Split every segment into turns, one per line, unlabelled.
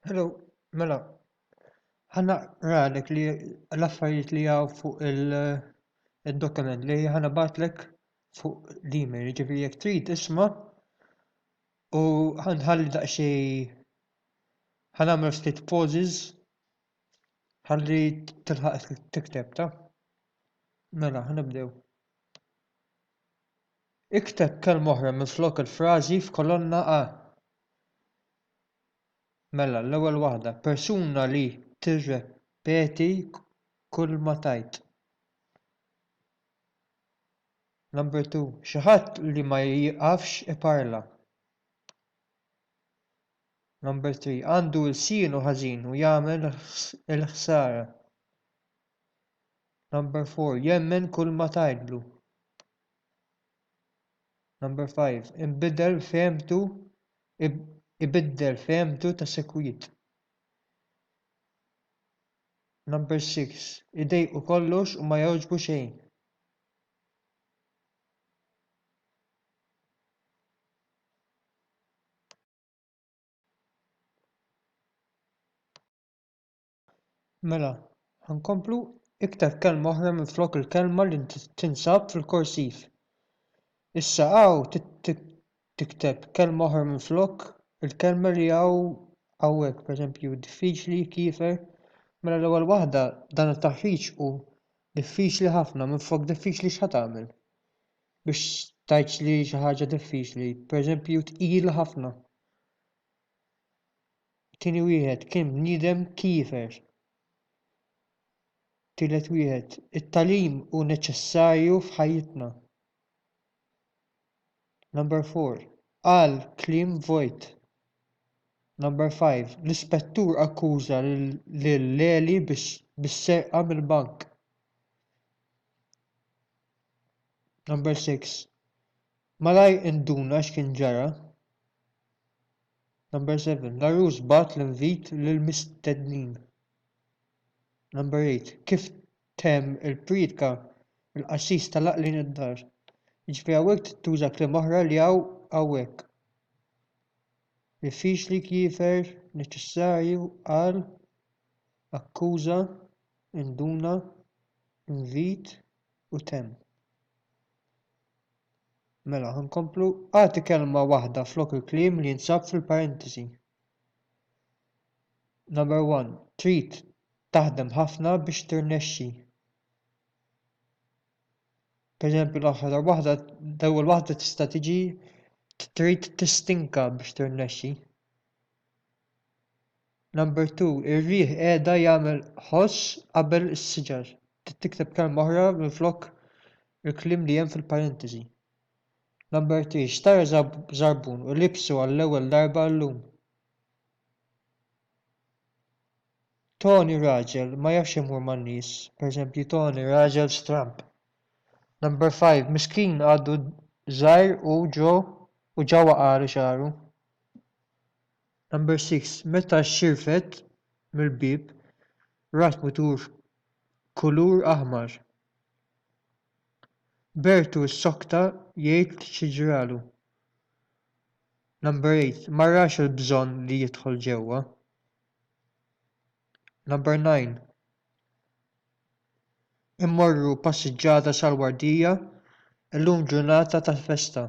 Hello, mela, ħana ralek li l-affarijiet li għaw fuq il-dokument li ħana batlek fuq l-email, ġifiri jek trid isma u ħanħalli daqxej ħanamel ftit pauses ħalli tilħaq tikteb ta' mela ħanibdew. Ikteb kelma oħra minn flok il-frażi f'kolonna A Mela, l-ewwel waħda, persuna li tirrepeti kulma tgħid. Number two, xi ħadd li ma jieqafx iparla. Number three, għandu lsienu ħażin u jagħmel il-ħsara. Number four, jemmen kulma tgħidlu. number 5 ibiddel fehmtu ibiddel fehmtu tas-sikwit number 6 idejqu kollox u ma jogħġbu xejn Mela, ħa nkomplu, ikteb kelma oħra minflok il-kelma li tinsab fil-korsiv. Issa hawn tikteb kelma oħra minflok il-kelma li hawn hawnhekk, pereżempju diffiċli, kiefer. Mela l-ewwel waħda dan it-taħriġ hu diffiċli ħafna, minflok diffiċli x'ħa tagħmel? Biex tgħidx li xi ħaġa diffiċli, pereżempju tqila ħafna. Tieni wieħed kien bniedem kiefer. Tielet wieħed, it-tagħlim hu neċessarju f'ħajjitna. Number four, qal kliem vojt. Number five, l-ispettur akkuża lil Leli bis-serqa mill-bank. Number six, malajr induna x'kien ġara. 7 l-għarus bagħat l-invit lill-mistednin. 8 kif temm il-priedka il-qassis telaq lejn id-dar jiġifieri hawnhekk trid tuża kliem oħra li hawn hawnhekk diffiċli kiefer neċessarju qal akkuża induna invit u temm Mela, ħa nkomplu. Agħti kelma waħda flok il-kliem li jinsab fil-parentesi. Number 1. Trid taħdem ħafna biex tirnexxi. Per eżempju, l-aħħar waħda, l-ewwel waħda tista' tiġi trid tistinka biex tirnexxi. number 2 ir-riħ qiegħda jagħmel ħoss qabel is-siġar trid tikteb kelma oħra minflok il-kliem li hemm fil-parentesi number 3 xtara żarbun u libsu għall-ewwel darba llum tony raġel ma jafx imur man-nies per eżempju tony raġel stramb number 5 miskin għadu żgħir u ġo u ġa waqagħlu xagħru Number 6, Meta xirfet mill-bieb, rat mutur kulur aħmar. Bertu ssokta jgħid xi ġralu. Number 8, Ma rax il-bżonn li jidħol ġewwa. Number 9, Immorru passiġġata sal-wardija, illum ġurnata ta' festa.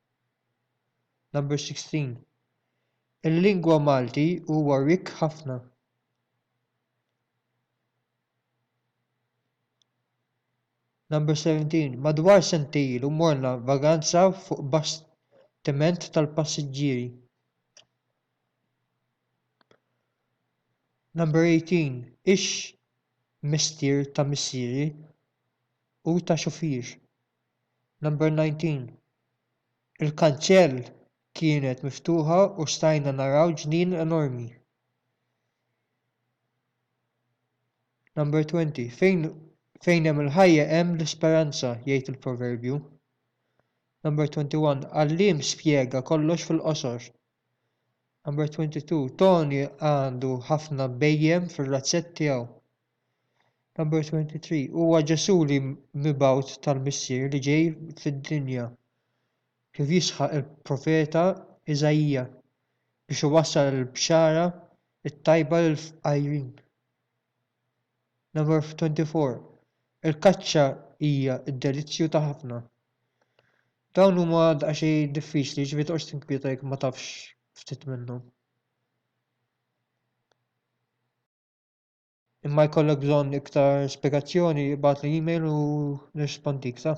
16 il-lingwa malti huwa rikk ħafna l-17 madwar sentej ilu morna vaganza fuq bastiment tal-passiġġieri l-18 ix mistier ta' missieri u ta' xufier Number 19 Il-kanċell kienet miftuħa u stajna naraw ġnien enormi. Number 20 Fejn fejn hemm il-ħajja hemm l-isperanza, jgħid il-proverbju. Number 21 Għalliem spjega kollox fil-qosor. Number 22 Tony għandu ħafna bejjem fir-razzett tiegħu. Huwa Ġesù l-mibgħut tal-Missier li ġej fid-dinja, kif jisħaq il-profeta Iżaija, biex iwassal il-bxara t-tajba lill-fqajrin. 24 Il-kaċċa hija d-delizzju ta' ħafna. Dawn huma daqsxejn diffiċli, ġifieri toqgħodx tinkwieta jekk ma tafx ftit minnhom. Imma jkollok bżonn iktar spjegazzjoni ibgħatli email u nirrispondik, sa?